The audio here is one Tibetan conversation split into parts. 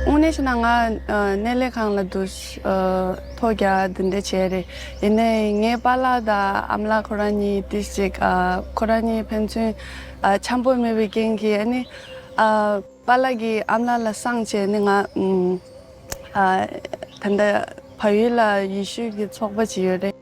དངོས་གནས་བྱས་ན་ང་གནས་ལས་ཁང་ལ་འདུག་ཐོག་རྒྱ་འདི་འདྲ་བྱས་རེད་ཡིན་ནས་ངའི་པ་ལགས་དང་ཨམ་ལགས་ཁོ་རང་གཉིས་དེ་གཅིག་ཁོ་རང་གཉིས་ཕན་ཚུན་འཆམ་པོ་མེད་པའི་རྐྱེན་གྱིས་ཨ་ནི་པ་ལགས་ཀྱིས་ཨམ་ལགས་ལ་སངས་བྱས་ནས་ང་ད་ལྟ་བལ་ཡུལ་ལ་ཡེ་ཤུའི་ཚོགས་པ་བྱས་ཡོད་རེད།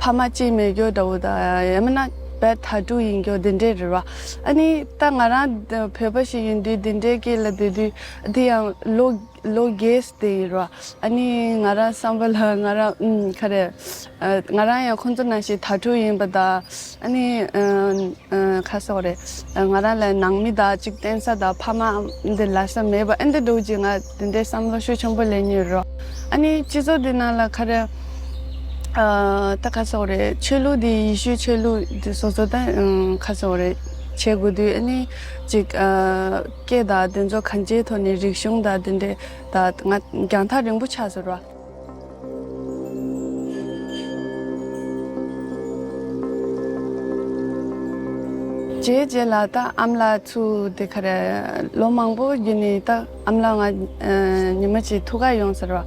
ཕ་མ་གཅིག་མེད་གྱོ་ད་བུ་ད་ཡ་མ་ན་བད་ད་དྲུག་ཡིན་གྱོ་དེ་འདྲས་རེད་བ་ཨ་ནི་ད་ང་རང་བོད་པ་ཞིག་ཡིན་དུས་དེ་འདྲས་སྐད་ལ་བསྡད་དུས་དེ་ཡང་ལོ་ལོ་རྒས་སྡད་ཡོད་བ་ཨ་ནི་ང་རང་བསམ་པ་ལ་ང་རང་ཨུམ་ཁ་རེད་ང་རང་ཡང་ཁོང་ཚོ་ན་ཞིག་ད་དྲུག་ཡིན་པ་ད། ཨ་ནི། ཁ་སོགས་རེད། ང་རང་ལ་ནང་མི་དག་ཅིག་བསྟེན་ས་དང་ཕ་མ་འདི་ལ་ས་མེད་པ་ཨེ་འདི་འདུག་ཅིག་ང་དེ་འདྲའི་བསམ་བློ་ཤུགས་ཆེན་པོ་ལེན་ཉེ་རོ། ཨ་ནི། སྤྱི་ཚོགས་འདི་ནང་ལ་ཁ་རེ། ད་ཁ་སོགས་རེད། ཆོས་ལུགས་འདི་ཡི་ཤུའི་ཆོས་ལུགས་འདི་སོ་སོ་ད་ཁ་སོགས་རེད། བྱེད་དགོས་དུས་ཨ་ནི། ཅིག། སྐད་དང་དེ་ཚོ་གང་ཅིའི་ཐོག་ནས་རིག་གཞུང་དང་འདི་འདྲའི་དང་ང་རྒྱང་ཐག་རིང་པོ་ཆགས་ཟེར་རོ། ཅེས་བརྗེད་ལ་ད་ཨམ་ལགས་ཚུ་འདི་ག་རེད་ལོ་མང་པོ་རྒྱུན་ནས་ད་ཨམ་ལགས་ང་ཉི་མ་གཅིག་ཐུག་ག་ཡོང་ཟེར་བ་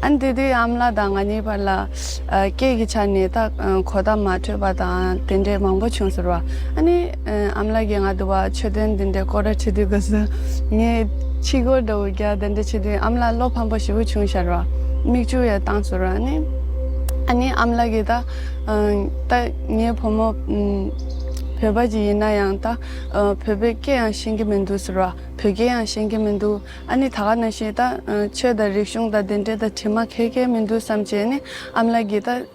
ཨ་འདི་དུས་ཨམ་ལགས་དང་ང་གཉིས་བར་ལ་སྐད་ཀྱི་ཆ་ནས་ད་གོ་བརྡ་མ་འཕྲོད་པ་དང་དེ་འདྲས་མང་པོ་བྱུང་ཟེར་བ་ཨ་ནི། ཨ་མ་ལགས་ཀྱིས་ང་དུ་བ་ཆོས་དོན་འདི་འདྲའི་སྐོར་བྲ་ཆེ་དུས་དགའ་བསུ། ངས་ཕྱི་སྒོར་དུ་བ་རྒྱ་དེ་འདྲ་ཆེ་དུས་ཨ་མ་ལགས་བློ་ཕམ་པོ་ཞེ་བོ་བྱུང་ཤར་བ། མིག་ཆུ་ཡང་བཏང་ཟུར་བ་ནི། ཨ་ནི་ཨ་མ་ལགས་ཀྱིས་ད་ལྟ་ངའི་བུ་མོ་བོད་པ་ཅིག་ཡིན་ན་ཡང་ད་བོད་པའི་སྐད་ཡང་ཤེས་ཀྱི་མི་འདུག་ཟུར་བ། བོད་སྐད་ཡང་ཤེས་ཀྱི་མི་འདུག་ཨ་ནི་ད་ག་ནས་ཤེས་ད་ཆོས་དང་རིག་གཞུང་དང་དེ་འདྲའི་ད་དྲི་མ་ཁེལ་ཁེལ་མི་འདུག་བསམ་བྱས་ནི་ཨ་མ་ལགས་ཀྱིས་ད།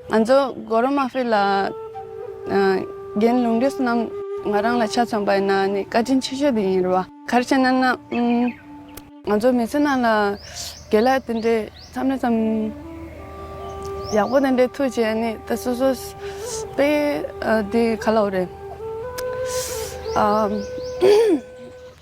ང་ཚོ་སྒོ་ར་མ་ཕེ་ལ་རྒན་ལུང་རིགས་རྣམས་ང་རང་ལ་ཆ་ཚང་པ་ཡིན་ན་ནི་བཀའ་དྲིན་ཆེ་ཤོས་དེ་ཡིན་རེད་བ། གར་བྱེད་རྣམས་ན་ང་ཚོ་མི་ཚེ་རྣམས་ལ་དགེ་ལ་དེ་འདྲའི་མཚམས་རེ་ཙམ་ཡག་པོ་དེ་འདྲའི་ཐུགས་བྱས་ནི་ད་སོ་སོ་པའི་དེ་ག་ལ་འོ་རེད།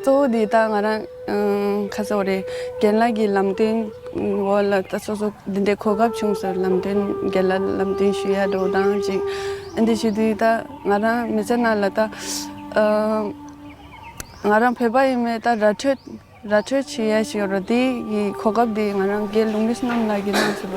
གཙོ་བོ་འདི་དག་ང་རང་ཁ་སོགས་རེད་རྒན་ལགས་ཀྱི་ལམ་སྟོན་འོག་ལ་ད་སོ་སོ་འདི་འདྲའི་གོ་སྐབས་བྱུང་ཟེར་ལམ་སྟོན་རྒན་ལགས་ལམ་སྟོན་ཞུ་ཡ་འགྲོ་སྟངས་གཅིག་ཨ་འདི་ཞུ་དུས་ད་ང་རང་མི་ཚེ་ནང་ལ་ད་ང་རང་བོད་པ་ཡིན་མོད་ད་ར་འཕྲོད་ར་འཕྲོད་བྱེད་ཡ་ཞིག་རོ་དེ་ཡི་གོ་སྐབས་འདི་ང་རང་དགེ་ལུགས་མི་སྣ་རྣམས་ལགས་ཀྱི་གནང་ཟེར་བ་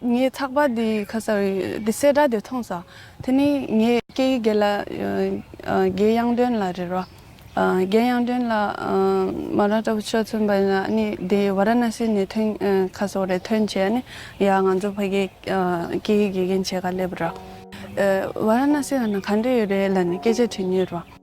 ངས་ཚགས་པར་འདི་ཁ་སང་གི་གསལ་བསྒྲགས་དེ་མཐོང་ས་དེ་ནི་ངས་སྐད་ཡིག་དགེ་ལ་དགེ་དབྱངས་སྒྲོན་ལ་རེད་རོ། དགེ་དབྱངས་སྒྲོན་ལ་མ་ར་ཏྲ་བུ་ཆོས་མཚོན་པ་ཡིན་ནི་དེ་བ་ར་ན་སི་ནས་ཐོན་ཁ་སོགས་རེད་ཐོན་བྱས་ནི་ཡ་ང་ཚོ་ཕ་གི་སྐད་ཡིག་དགེ་རྒན་བྱས་ཁ་སླེབས་རོ། བ་ར་ན་སི་ཡ་ན་ག་འདྲ་ཡོད་རེད་ལ་ནི་སྐད་ཆ་དྲི་ངེས་རོ།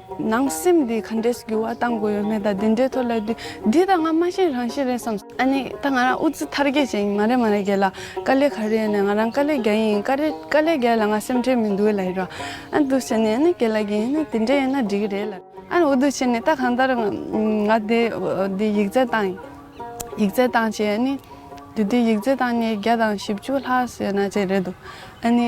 ནང་སེམས་འདི་ག་འདྲས་འགྱུར་བ་བཏང་དགོས་ཡོད་མེད་དང་དེ་འདྲས་ཐོག་ལས་དུས་འདི་ད་ང་མ་ཤེས་རང་ཤེས་རེད་བསམ། ཨ་ནི་ད་ང་རང་ཨུ་ཙི་ཐར་རྒྱལ་ཅན་ཡིན་མ་རེད་མ་རེད་རྒྱལ་ལ་དཀའ་ལས་ག་རེ་ཡོད་ནས་ང་རང་དཀའ་ལས་རྒྱལ་ཡིན་དཀའ་རེ་དཀའ་ལས་རྒྱལ་ལ་ང་སེམས་ཁྲལ་མི་འདུག་ལ་ཡིན་རོགས་ཨ་འདུག་བྱས་ནས་ཨ་ནི་རྒྱལ་ལ་རྒྱལ་ཡིན་ནས་དེ་འདྲས་ཡོད་ན་འགྲིག་གི་རེད་ལ། ཨ་ནི་འུ་འདུག་བྱས་ནས་ད་གང་ལྟར་ང་དེ་འདི་ཡིག་རྩལ་བཏང་ཡིག་རྩལ་བཏང་བྱས་ཨ་ནི་དེ་དུས་ཡིག་རྩལ་བཏང་ནས་བརྒྱ་དང་བཞི་བཅུ་ལྷག་ཟེར་ན་བྱས་རེད་འདུག་ཨ་ནི།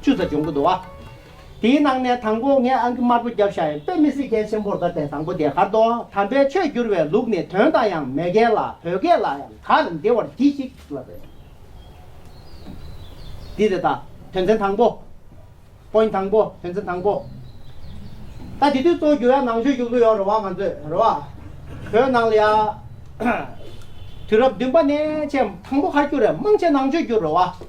བཅུ་རྩ་སྦྱོང་གི་འདུག་བ། དེའི་ནང་ནས་དང་པོ་ངས་ཨང་ཀི་དམར་པོ་བརྒྱབ་བཞག་ཡིན་དཔེ་མི་སྲིད་མཁན་ཆེན་པོར་ད་དེ་དང་པོ་དེ་གར་དོ་དམ་པའི་ཆོས་བསྒྱུར་བའི་ལུགས་ནི་དོན་དང་ཡང་མེ་གལ་ལ་བོད་སྐད་ལ་ཡང་གར་འདེ་བར་གྱིས་ཤིག་ལ་རེད། འདི་རེད་ད་དོན་ཚན་དང་པོ། Point དང་པོ་དོན་ཚན་དང་པོ། ད་དེ་དུས་གཙོ་བོ་འགྱུར་ཡ་ནང་ཆོས་བསྒྱུར་གི་ཡོད་རེད་བ་ང་ཚོས་རེད་བ། བོད་ནང་ལ་ཡ། དུས་རབས་བདུན་པ་ནས་ཆེས་དང་པོ་གར་བསྒྱུར་རེད་དམངས་ཆེན་ནང་ཆོས་བསྒྱུར་རེད་བ།